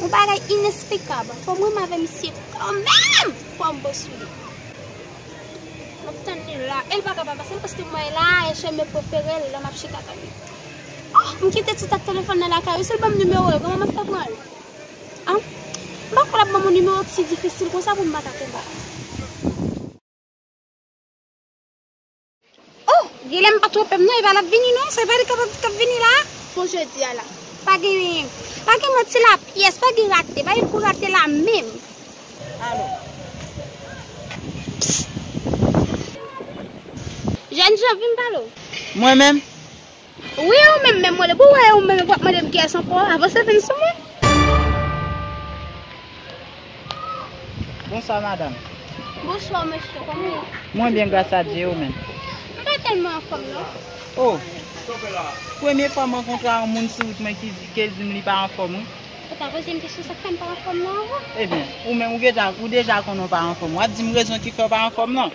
Yon bagay inesplikab. Fòm wè m avè misye kanmenm pou m bo sou li. M ap tann li la. E l pa ka pa pase paske mwen la e cheme prefere l la m ap chita tann li. Oh! M kite tout ak telefòn nan lakay ou. Si l ban m nimewo l, kòman m ap fè pran l? An? M pa kwè l ap ban m yon nimewo k si difisil konsa pou m pa ta kenbe l. Oh guilem pa tronpem non eva lap vini non se pa li kap vini la pou jodi a la pa gen pa gen manti la pyès pa gen rate pa gen kou rate la menm alo pss jènjan vin pale w. Mwen menm? Wi e ou menm menm mwen le pou wè e ou menm epi wap mandem kiyès ankò avanse vin sou mwen. Bonswa madam. Bonswa mesye kòman ou. Mwen byen gras a Dye e ou menm. M pa tèlman anfòm non. Oh premye fwa m rankontre yon moun sou wout mwen ke l di m li pa anfòm wi. Ou pa poze m kesyon sak fè m pa anfòm nan avan. Ebyen ou menm ou deja konnen ou pa anfòm wap di m rezon ki fè ou pa anfòm nan.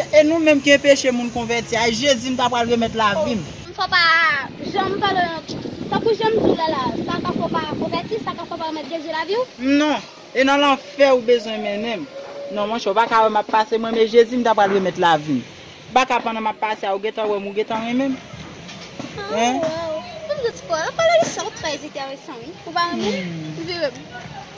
E nou menm ki enpeche moun konvèti a, Jezi m ta pral remèt lavim. M fò pa janm pale yon Tankou jan m di w la la, sa ka fè w pa konvèti, sa ka fè w pa remèt Jezi lavi w. M non, e nan lanfè ou bezwen mennen m. Non monchè, ou pa ka wè m ap pase m renmen Jezi m ta pral remèt lavi m. Ou pa ka pandan m ap pase a ou gentan wè m ou gentan renmen m. Waww, m dout fò, anpale de sa ou trè enteresan wi. Ou pa renmen m? M vire m.